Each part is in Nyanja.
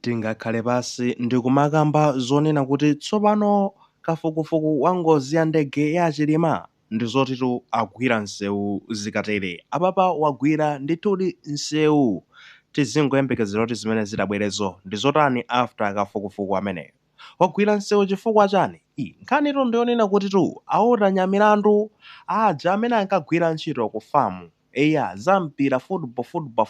Tingakhale pansi ndikumakamba zonena kuti tsopano kafukufuku wa ngozi ya ndege ya achilima ndizotitu agwira nsewu zikatere apapa wagwira ndithudi nsewu tizingoyembekezera kuti zimene zitabwerezo ndizotani after kafukufuku ameneyo wagwira nsewu chifukwa chani ii nkhanitu ndiyonena kutitu a walter nyamilandu aja amene ankagwira ntchito ku fam Eya, za mpira, football, Football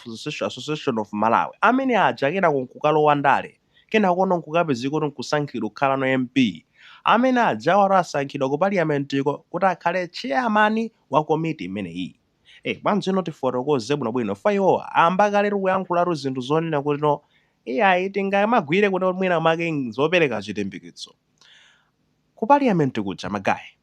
Association of Malawi, amene aja kenako nkukalowa ndale, kenakono nkukapezeka kuti nkusankhidwa kukhalano MP, amene ajawatu asankhidwa ku paliamentiko kuti akhale chairman wa komiti imeneyi. Eh, bwanjino tifotokoze bwinobwino chifukwa iwowa amba kaletu kuyankhulatu zinthu zonena kuti no iyayi tingamagwire kuti mwinamake zopereka chilimbikitso ku paliament kuja, magaye.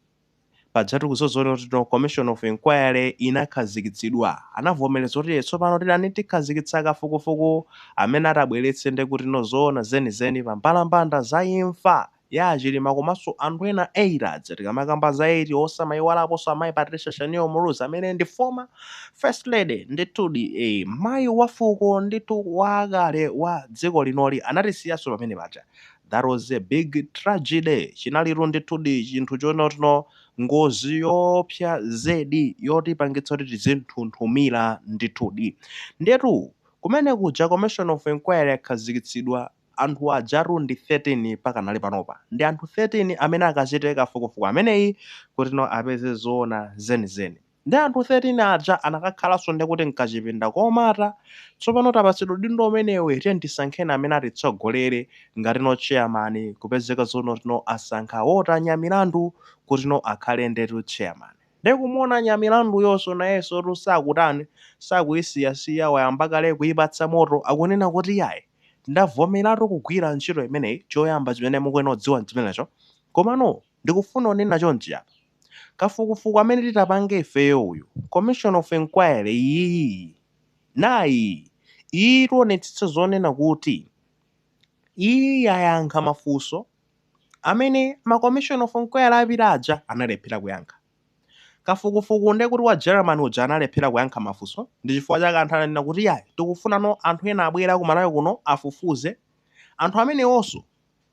Pajatu kuzoona kutino commission of inquiry inakhazikitsidwa. Anavomereza kuti ee tsopano titani tikhazikitsa kafukufuku amene atabweretse ndekutino zoona zenizeni pambalambanda za imfa ya a Chilima komanso anthu ena 8 aja tikamakamba za 8 osamaiwalaponso amayi Patricia Shanil Muluzi amene ndi former first lady ndithudi ee mayi wa fuko ndithu wakale wa dziko linoli anatisiyanso pamene paja That was a big tragedy, chinalitu ndithudi chinthu chonotino, ngozi yoopsa zedi yotipangitsa kuti tizinthunthumira ndithudi. Ndiyetu kumene kuja commission of enquiry yakhazikitsidwa, anthu ajatu ndi 13 pakanali panopa. Ndi anthu 13 amene akachite kafukufuku ameneyi kutino apeze zoona zenizeni. Nde anthu 13 aja anakakhalanso nde kuti mkachipinda komata tsopano tapatsidwa udindo umenewu e tiyeni tisankheni amene atitsogolere ngatino chairman kupezeka zonotino asankha Walter Nyamilandu kutino akhale ndetu chairman ndikumuona Nyamilanduyonso nayensotu sakutani sakuyisiyasiya wayamba kale kuyipatsa moto akunena kuti yayi ndavomeratu kugwira ntchito imeneyi choyamba chimene mukuyenera kudziwa nchimenecho komano Ndikufuna kunena chonchi apa. Kafukufuku amene titapange ifeyo uyu, commission of enquiry iyiyiyi, nayi iyi, tionetsetse zonena kuti iyi yayankha mafunso amene ma commission of enquiry apita aja analephera kuyankha. Kafukufuku nde kuti wa Germany uja analephera kuyankha mafunso, ndi chifukwa chake anthu ananena kuti iyayi, tikufunano anthu ena abwere a ku Malawi kuno afufuze, anthu amenewonso.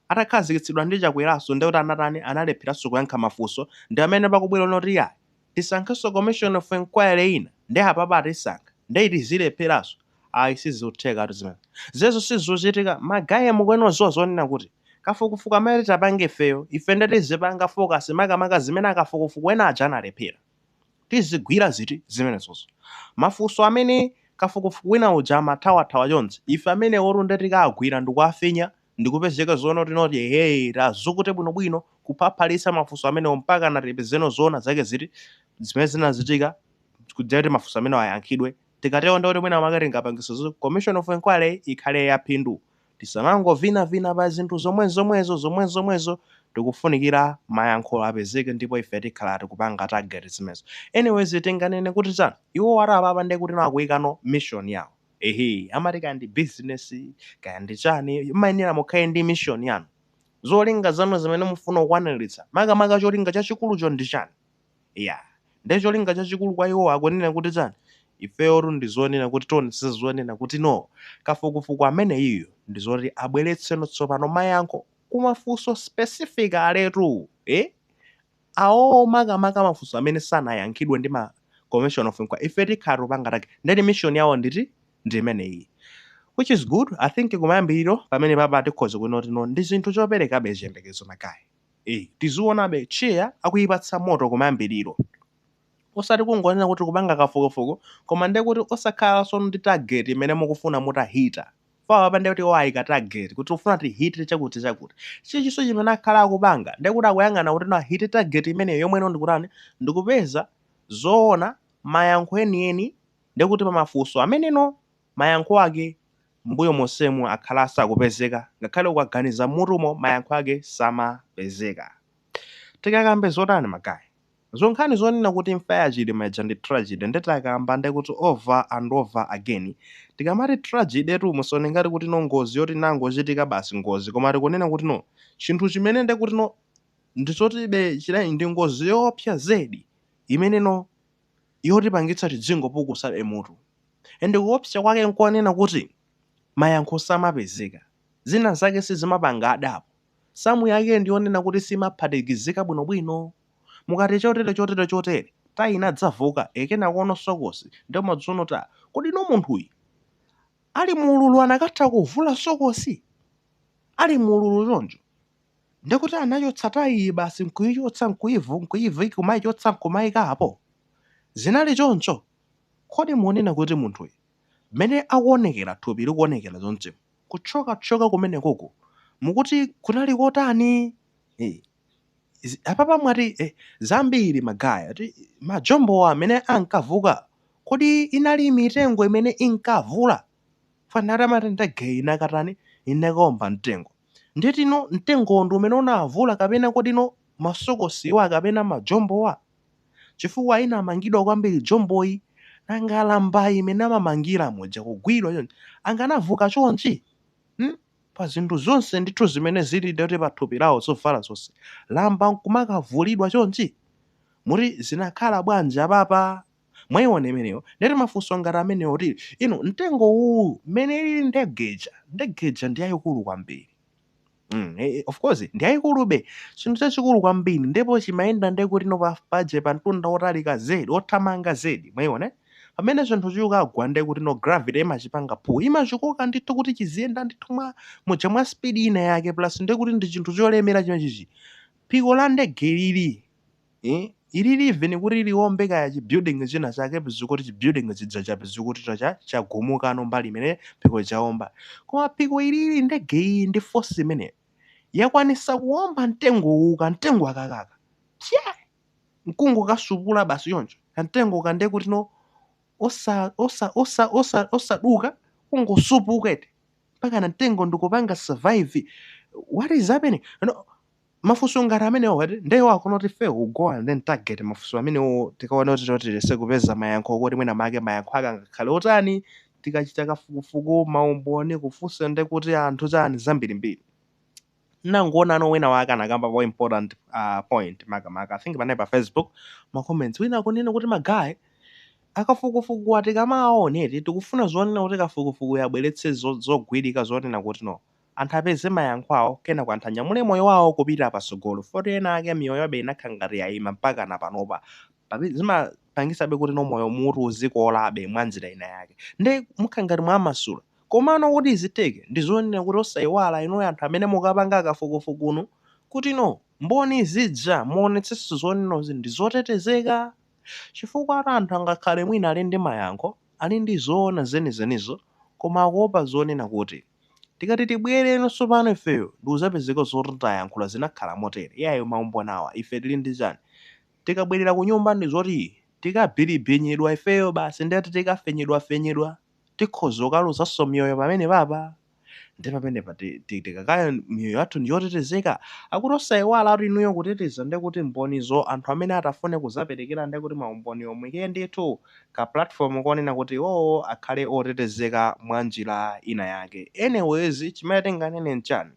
Atakhazikitsidwa ndi chakweraso ndekuti anatani analepheraso kuyankha mafunso ndipamene pakubwera zonena kuti yayi tisankheso commission of enquiry ina nde apapa atisankha nde iti idzalepheraso ayi sizikuthekatu zimenezo ziyezo sizuchitika ma guy mukuyenera kudziwa zonena kuti kafukufuku amene titapange ifeyo ife nde tizipanga focus makamaka zimene akafukufuku ena aja analephera tizigwira ziti zimenezozo mafunso amene kafukufuku wina uja amathawathawa chonchi ife amenewotu nde tikawagwira ndikuwafinya ndikupeza zoona kuti no tiye tazukute bwinobwino kuphaphalitsa mafunso amenewo mpakana tipezeno zoona zake ziti zimene zinachitika kudzera kuti mafunso amenewo ayankhidwe tikatero ndikuti mwina mwake tingapangise zoti commission of inquiry ikhale yaphindu tisamangovinavina pa zinthu zomwezomwezo zomwezomwezo tikufunikira mayankho apezeke ndipo ife tikhala tikupanga target zimenezo anyways tinganene kuti chani iwo ati apapa ndekuti akuikano mission yawo ehe amati kaya ndi business kaya ndi chani mumayenera mukhale ndi mission yanu zolinga zanu zimene mufuna kukwaniritsa makamaka cholinga chachikulucho ndi chani ya nde cholinga chachikulu kwa iwo akunena kuti chani ifeyotu ndi zonena kuti tionetsetsa zonena kuti no kafukufuku ameneyiyo ndi zoti abweretseno tsopano mayankho kumafunso specific aletu eh? awowo makamaka mafunso amene sanayankhidwe ndi ma commission of inquiry ife tikhala tikupanga target ndekuti mission yawo nditi ndi imeneyi which is good i think kumayambiriro pamenepapa tikhoza kunena kuti no ndi zinthu zoperekabe chiyembekezo magayi eh tiziona be cheya akuyipatsa moto kumayambiriro osati kungonena kuti tikupanga kafukufuku koma ndiye kuti osakhalanso ndi target imene mukufuna mutahita apapa ndiye kuti iwo ayika target kuti tikufuna tihite chakuti chakuti chinchonso chimene akhala akupanga ndiye kuti akuyang'ana kuti ahite target imeneyo yomwe no ndikutani ndikupeza zoona mayankho enieni ndiye kuti pamafunso ameneno mayankho ake mbuyo monsemu akhala asakupezeka ngakhale ukaganiza mutumo mayankho ake samapezeka tikakambe zotani magayi Za nkhani zonena kuti imfa ya Chilima ija ndi tragedy nde takamba nde kuti over and over again. Tikamati tragedy tu musaone ngati kuti no ngozi yoti inangochitika basi ngozi koma tikunena kuti no chinthu chimene nde kuti no ndi chotibe chidani ndi ngozi yoopsa zedi imene no yotipangitsa tidzingopukusabe mutu and kuopsa kwake nkonena kuti mayankho samapezeka, zina zake sizimapanga add up, sum yake ndi yonena kuti simaphatikizika bwinobwino. Mukati chotere, chotere, chotere, tayi inadzavuka, e, kenakono sokosi, ndipo kodzano tayi. Kodi inu munthuyu, ali mu ululu anakatha kuvula sokosi? Ali mu ululu choncho. Ndi kuti anachotsa tayi iyi basi nkuyichotsa, nkuyivu, nkuyivi, kumayichotsa nkumayika apo? Zinali choncho? Kodi munena kuti munthuyu, mmene akuwonekera, thupi likuwonekera chonchi, kuthyoka thyoka kumenekoko, mukuti kunali kotani? Eee. Izi- apapa mwati eti, zambiri magaye eti majombowa amene ankavuka kodi inali mitengo imene inkavula foti amati ndege inakatani inakaomba mtengo ndiye kuti no mtengowo ndi umene unavula kapena kuti no masokosiwa kapena majombowa chifukwa inamangidwa kwambiri jomboyi nanga lamba imene amamangira muja kugwidwa chonchi anganavuka chonchi hmm? pa zinthu zonse ndithu zimene zili ndiye kuti pa thupi lawo zovala zonse lamba nkumakavulidwa chonchi? muti zinakhala bwanji apapa? mwaiona imeneyo ndiye kuti mafunso ngati amenewo kuti inu mtengo uwu mmene ilili ndege ija ndege ija ndi yayikulu kwambiri Mm, eh, eh, of course ndi yayikulube chinthu chachikulu kwambiri ndipo chimayenda ndekuti no pa paja pa mtunda wotalika zedi wothamanga zedi mwaiona Pamene chinthu chikugwa ndiye kuti no gravity imachipanga pull. Imachikoka ndithu kuti chiziyenda ndithu muja mwa speed ina yake plus ndiye kuti ndi chinthu cholemera chimene chichi. Phiko la ndege ilili. Eh? Ilili even kuti liombe kaya chi building china chake pezeka kuti chi building chija chapezeka kuti chagumukano mbali imene phiko chaomba. Koma phiko ilili ndege iyi ndi force imene yakwanitsa kuomba mtengo kamtengo akakaka. Chee! nkungokasupula basi choncho kamtengoka ndiye kuti no osaduka kungosupuka eti mpaka kamtengo ndikupanga survive what is happening mafunso ngati amenewo ndiwo akuona kuti ife we go and then target mafunso amenewo tikaona kuti tiyese kupeza mayankho kuti mwina make mayankho ake angakhale otani tikachita kafukufuku maumboni kufunsa ndi kuti anthu chani zambirimbiri Ndangoonano wina wake anakambapo important point makamaka I think panali pa Facebook ma comments wina akunena kuti ma guy akafukufukuwa tikamawaona eti tikufuna zonena kuti kafukufukuyu abweretse zogwirika zonena kuti no anthu apeze mayankho awo kenako anthu anyamule moyo wawo kupita patsogolo foti ena ake miyoyo yawobe inakhala ngati yayima mpaka na panopa Pabe- zima pangisabe kuti no moyo mutu uzikolabe mwanjira inayake nde mukhala ngati mwamasula komano kuti izitheke ndizonena kuti osaiwala inuyo anthu amene mukapanga kafukufukunu kuti no mboni zija muonetseso zonenozi ndizotetezeka chifukwatu anthu angakhale mwina ali ndi mayankho ali ndi zoona zenizenizo koma akuopa zonena kuti tikati tibwere tsopano ifeyo ndikuzapezeka zoti tayankhula zinakhala motere iyayi maumboni awa ife tili ndi chani Tikabwerera kunyumba ndi zoti tikabhiribhinyidwa ifeyo basi nde tikafenyedwafenyedwa tikhoza kukaluzanso miyoyo pamenepapa nde pamene tikakaya miyoyo yathu ndi yotetezeka? Akuti osaiwalatu inuyo kuteteza nde kuti mbonizo anthu amene atafune kuzaperekera nde kuti maumboniwo muike ndithu ka platform konena kuti iwowo akhale otetezeka mwa njira ina yake anyways chimene tinganene nchani?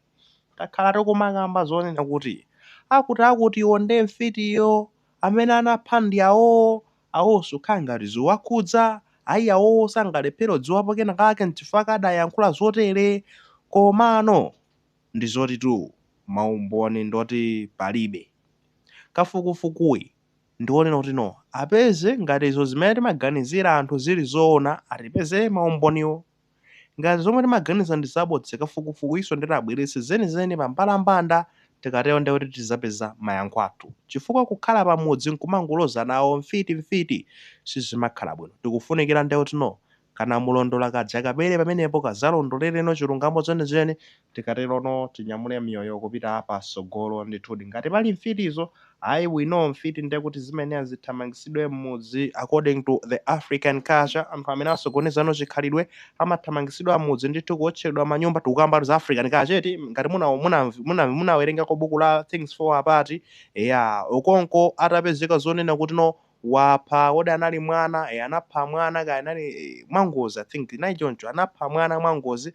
takhala tikumakamba zonena kuti akutiakutiwo nde mfitiyo, amene anapha ndi awowo, awowo sukhala ngati ziwakhudza, ayi awowo sangalephere kudziwapo kena kake nchifukwa chake adayankhula zotere, komano ndizotitu maumboni ndoti palibe. Kafukufukuyi ndiwonena kuti no apeze ngati izo zimene timaganizira anthu zili zoona atipezere maumboniwo. Ngati zomwe timaganiza ndi zabodza kafukufukuyiso ndeti abweretse zenizeni pa mbalambanda tikatero ndiye kuti tizapeza mayankho athu chifukwa kukhala pa mudzi nkumangolozana awo mfiti mfiti sizimakhala bwino tikufunikira nde kuti no kanamulondola kaja kabwere pamenepo kazalondoleleno chilungamo chenicheni Tikaterono tinyamule miyoyo kupita patsogolo. Ndithudi. Ngati pali mfitizo, ayi, we know mfiti nde kuti zimayenera zithamangitsidwe mmudzi according to the African culture, anthu amene asokonezano chikhalidwe amathamangitsidwa mmudzi ndithu, kuotchedwa manyumba, tikukamba za African culture eti, ngati muna muna muna munawerengako buku la Things Fall Apart, eya, Okonkwo atapezeka zonena kuti no wapha, kodi anali mwana, eya anapha mwana kaya anali, mwangozi I think, inali choncho, anapha mwana mwangozi.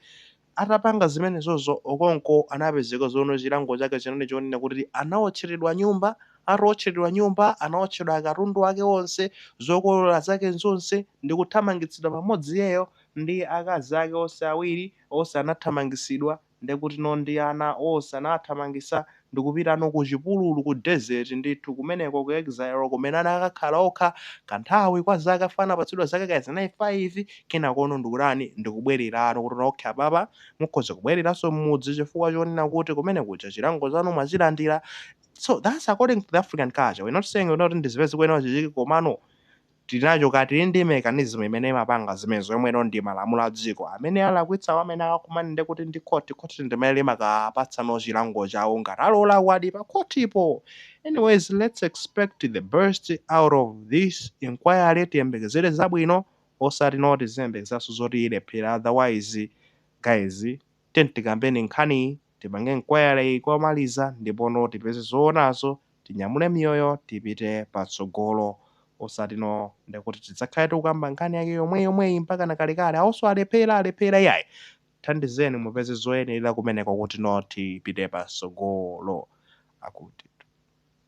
Atapanga zimenezozo, Okonkwo anapezeka zona chilango chake chinali chonena kuti anawotcheredwa nyumba, atawotcheredwa nyumba, anawotchedwa katundu ake onse, zokolola zake zonse, ndi kuthamangitsidwa pamodzi iyeyo ndi akazi ake onse awiri, onse anathamangitsidwa, ndekutino ndi ana onse anawathamangitsa, ndikupitano ku chipululu, ku desert, ndithu, kumeneko ku exile, kumene anakakhala okha, kanthawi, kwa zaka, chifukwa anapatsidwa zaka kaya zinayi, faivi, kenakono ndikutani, ndikubwererano, kuti, okay, apapa mukhoza kubwereranso m'mudzi, chifukwa chonena kuti kumene kuja chilango chanu mwachilandira, so that's according to the African culture, we're not saying, kunena kuti ndizimene zikuyenera zichitike, komano Tili nacho ka, tili ndi mechanism imene imapanga zimenezo yomwe no ndi malamulo adziko. Amene alakwitsawo amene akakumane nde kuti ndi court, court ndi imene imakapatsa no chilango chawo ngati ali olakwadi pa court po. Anyways let's expect the best out of this inquiry tiyembekezere zabwino osati no tiziyembekezeranso zoti ilephera otherwise guys tiyeni tikambeni nkhaniyi Tipange inquiry komaliza ndipono tipeze zoonazo tinyamule miyoyo tipite patsogolo osati no ndekuti tidzakhale tikukamba nkhani yake yomweyomweyi mpakana kalekale awonso alephera alephera iyayi thandizeni mupeze zoyenerera kumeneko kuti no tipite patsogolo akuti